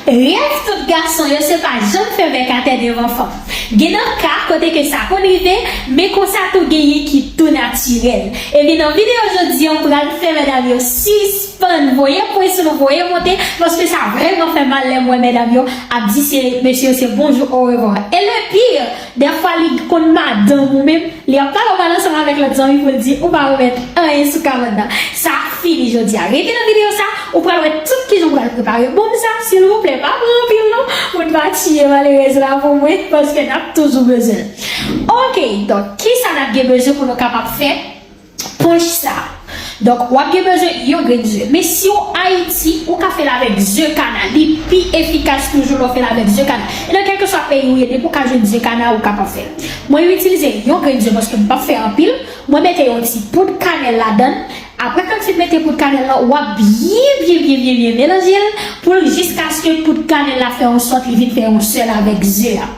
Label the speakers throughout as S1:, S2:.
S1: Rèv tout gason yo se pa janm fè bèk atè devan fanm. Gen nan ka kote ke sa konn rive, men konsa tou genyen ki tou natirèl. Ebyen nan videyo jodi an m pral fè medam yo sispann voye pwen sou nou, voye monte, paske sa vrèman fè mal lè m wè medam yo ap di se mesye yo se bonjou orevwa. E le pire! Dèfwa li konn madanm ou menm li ap pale ou pale ansanm avèk lòt zanmi pou l di ou pa remèt anyen sou kawòt nan sa fini jodia rete nan video sa ou pral wè tout kijan ou pral prepare bonm sa silvouplè pa pran anpil non moun pa tiye malerèz la pou mwen paske nap toujou bezwen l ok donk kisa nap gen bezwen pou nou kapab fè Punch sa. Donk wap gen bezwen yon grenn ze. Men si ou Ayiti, ou ka fèl avèk ze kana. Li pi efikas toujou lè w fèl avèk ze kana. E nan kèlkeswa peyi ou ye, depi ou ka jwenn ze kana, ou kapab fèl. Mwen itilize yon grenn ze paske m pap fè anpil. Mwen mete yon ti poud kanèl ladann. Aprè kan fin mete poud kanèl lan, wap byen byen byen byen byen melanje l pou l jiskaske poud kanèl la fè yon sòt li vin fè yon sèl avèk ze a.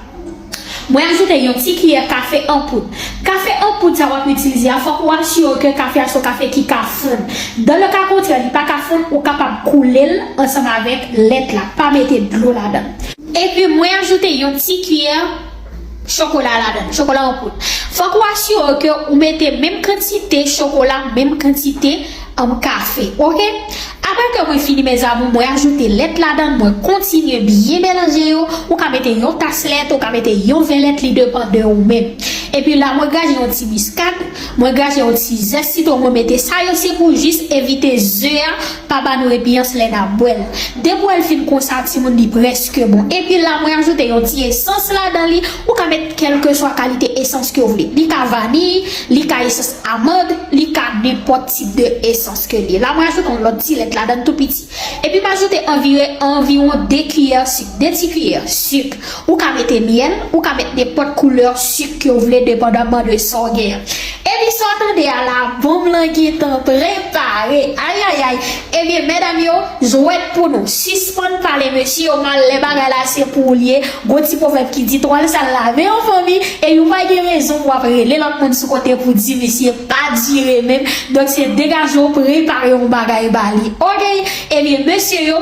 S1: Mwen ajoute yon ti kiyè kafe an poud. Kafe an poud sa wap itilize a fòk ou asirew ke kafe a son kafe ki ka fonn. Dan le ka kontrè li pa ka fonn ou kapab koulel ansanm avèk lèt la, pa mete dlo ladann. Epi mwen ajoute yon ti kiyè chokola ladann, chokola an poud. Fòk ou asirew ke ou mete menm kantite chokola, menm kantite. Anm kafe ok aprè ke mwen fini mes amour mwen ajoute lèt ladann mwen kontinye byen melanje yo ou ka mete yon tas lèt ou ka mete yon vè lèt li depan de ou menm epi la mwen graje yon ti miskad mwen graje yon ti zès sitwon mwen mete sa yo se pou jis evite ze a pa ba nou repiyans lè nap bwèl de bwèl fin konsa timoun li preske bon epi la mwen ajoute yon ti esans ladan li ou ka met kelkeswa kalite esans ke ou vle li ka vaniy li ka esans Amande li ka nenpòt tip de esans ke li ye. La mwen ajoute yon lòt ti lèt ladann tou piti. Epi m ajoute anvire anviwon 2 kiyè sik, 2 ti kiyè, sik. Ou ka mete myèl, ou ka met nenpòt koulè sik ke w vle depandanman de sa w genyen. Epi sa w tande a la bonm lan gentan prepare. Ayayay! Ebyen medam yo jwèt pou nou. Sispann pale mesye yo mal lè bagay la se pou ou li ye, gon ti pwovèb ki di twal sal lave an fanmi e yon pa gen rezon pou wap rele lòt moun sou kote pou di misye pa dire menm donk se degaje w prepare yon bagay ba li ok ebyen mesye yo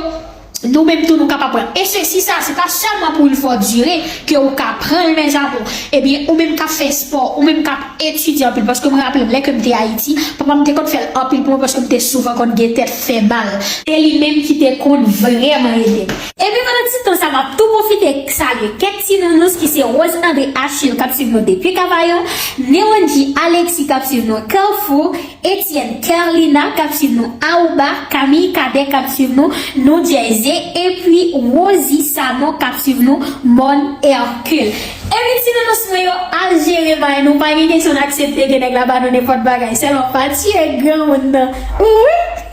S1: Nou menm tou nou kapab pran e sesi sa se pa sèlman pou yn fò dire ke ou ka pranl mes amour ebyen ou menm kap fè spò ou menm kap etidye anpil paske mwen raplem lè kem te ayiti papam te konn fèl anpil pou mwen paske mte souvan konn gen tèt fè mal e li menm ki te konn vrèman edem. Ebyen pandan ti tan sa map tou pwofite salye kèk ti nounous ki se Rose André Achille kap swiv nou depi Kavayon, Néwendjy Alexis kap swiv nou Carrefour, Etienne Kerlina kap swiv nou Aruba, Camille Cadet kap swiv nou New Jersey epi Rosie Sanon kap swiv nou Morne Hercule. Epi ti nounous mwen yo al jere may nou pa gen kesyon n aksepte ke nèg la ba nou nenpòt bagay sèlman pa tiye granmoun nan wi.